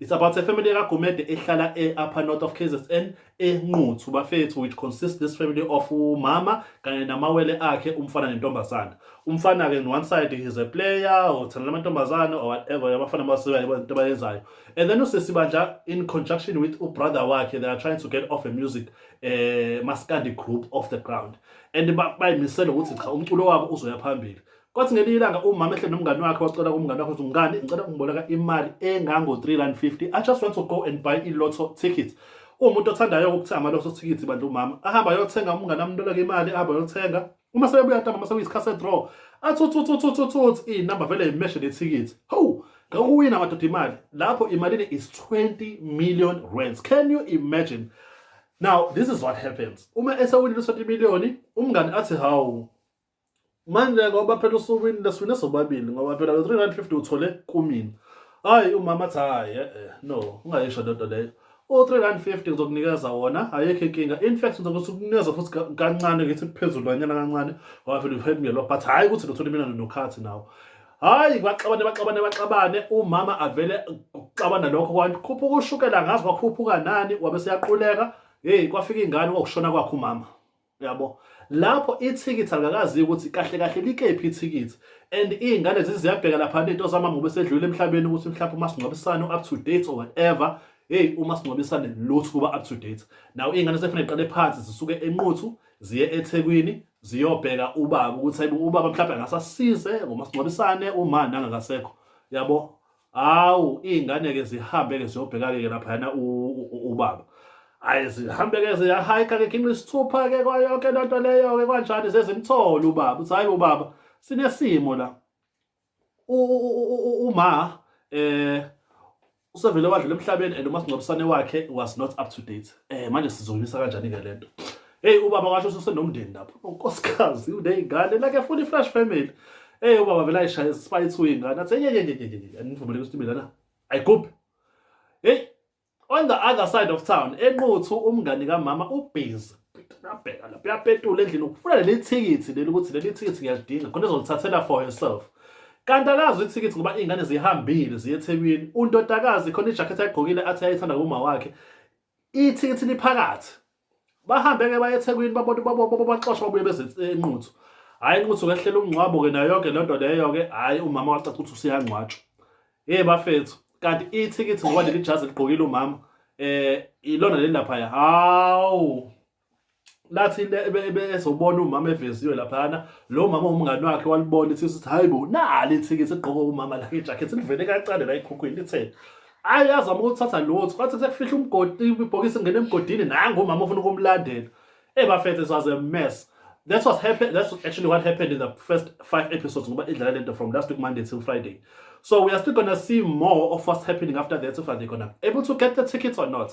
It's about a family kaGumede ehlala e-upper north of KZN enquthu bafethu which consists this family of umama kanye namawele akhe umfana nentombazana umfana ke one side is a player uthanda amantombazana or whatever abafana basiwa into bayenzayo and then usisi bandla in conjunction with ubrother wakhe they are trying to get off a music eh maskandi group off the ground and bayimisela ukuthi cha umculo wabo uzoya phambili Kwathi ngelinye ilanga umama ehle nomngane wakhe wacela kumngane wakhe ukuthi mngane ngicela ungiboleka imali engango-350 i just want to go and buy i-lotto ticket umuntu othandayo ukuthenga ama-lotto ticket bandla umama ahamba ayothenga umngane amntoleke imali ahamba ayothenga uma sebebuya ntamba uma sekuyisikhathi se-draw athi uthuthuthuthuthut iy'namba vele yimeshe nethikithi hawu ngawuwina madoda imali lapho imalini is 20 million rands can you imagine now this is what happens uma esewinile u-20 million umngane athi hawu manje ngoba phela usukwini leswine sobabili ngoba phela lo 350 uthole kumina hayi umama athi hayi eh, eh no ungayisho lento leyo u-350 ngizokunikeza wona ayikho inkinga in fact ngizokuthi ukunikeza futhi kancane ngithi kuphezulu kanyana kancane ngoba phela uphela ngelokho but hhayi ukuthi ndothole mina nokhathi nawo hhayi baxabane baxabane baxabane umama avele kuxabana lokho kwanti khuphuka ushukela ngazi kwakhuphuka nani wabe seyaquleka heyi kwafika ingane kwakushona kwakhe umama Uyabo? Lapho ithikithi alingakaziwa ukuthi kahle kahle likephi ithikithi. And iy'ngane ziziyabheka lapha nento zamama ngoba esedlulile emhlabeni ukuthi mhlawumbe umasingcwabisane u-up to date or whatever. Hey, umasingcwabisane lutho kuba up to date. Now iy'ngane sekufanele ziqale phansi zisuke enquthu ziye ethekwini ziyobheka ubaba ukuthi hayibo ubaba mhlawumbe angasasize ngomasingcwabisane uma nangakasekho. Uyabo? hawu iy'ngane-ke zihambe-ke ziyobheka-ke laphayana ubaba ayi zihambe-ke ziyahayikha ke khinqa isithupha-ke kwayonke loo nto leyo-ke kwanjani zezimthole ubaba uthi hhayi ubaba sinesimo la uma um usevele wadlula emhlabeni and umasingcwabisane wakhe was not up to date um manje sizoyimisa kanjani-ke le nto Hey ubaba washo sosenomndeni lapho. Unkosikazi oh, unezingane like full fresh family. Hey ubaba vele ayishaya spice uyingane. Athe ye ye ye ye ye. Anivumele ukuthi mina na. Ayigubhe. Hey on the other side of town enquthu umngani kamama ubhizi nabheka lapho uyapetula endlini ukufuna leli thikithi leli ukuthi leli thikithi ngiyalidinga khona ezolithathela for herself kanti akazi ithikithi ngoba iy'ngane zihambile ziye ethekwini untotakazi khona ijakhethi ayigqokile athi ayayithanda kuma wakhe Ithikithi liphakathi. Bahambe-ke baye eThekwini babona babobo baxoshwa babuye beze enquthu. Hhayi inquthu kehlela umngcwabo-ke nayo yonke le nto leyo-ke hhayi umama wacaca ukuthi usuyangcwatshwa. Hey bafethu, kanti ithikithi ngoba leli jazi ligqokile umama eh ilona leli laphaya. Hawu! lathi ezobona umama eveziwe laphana lo mama umngani wakhe walibona ithi sithi hayibo nali ithiki sigqoke umama la ijacket livele kancane la ekhukhwini lithe ayi yazama ukuthatha lutho kwathi sekufihla umgodi ibhokisi ngene emgodini nangu umama ufuna ukumlandela eh bafethu was a mess that was happen that's actually what happened in the first five episodes ngoba idlala lento from last week monday till friday so we are still gonna see more of what's happening after that if they're gonna able to get the tickets or not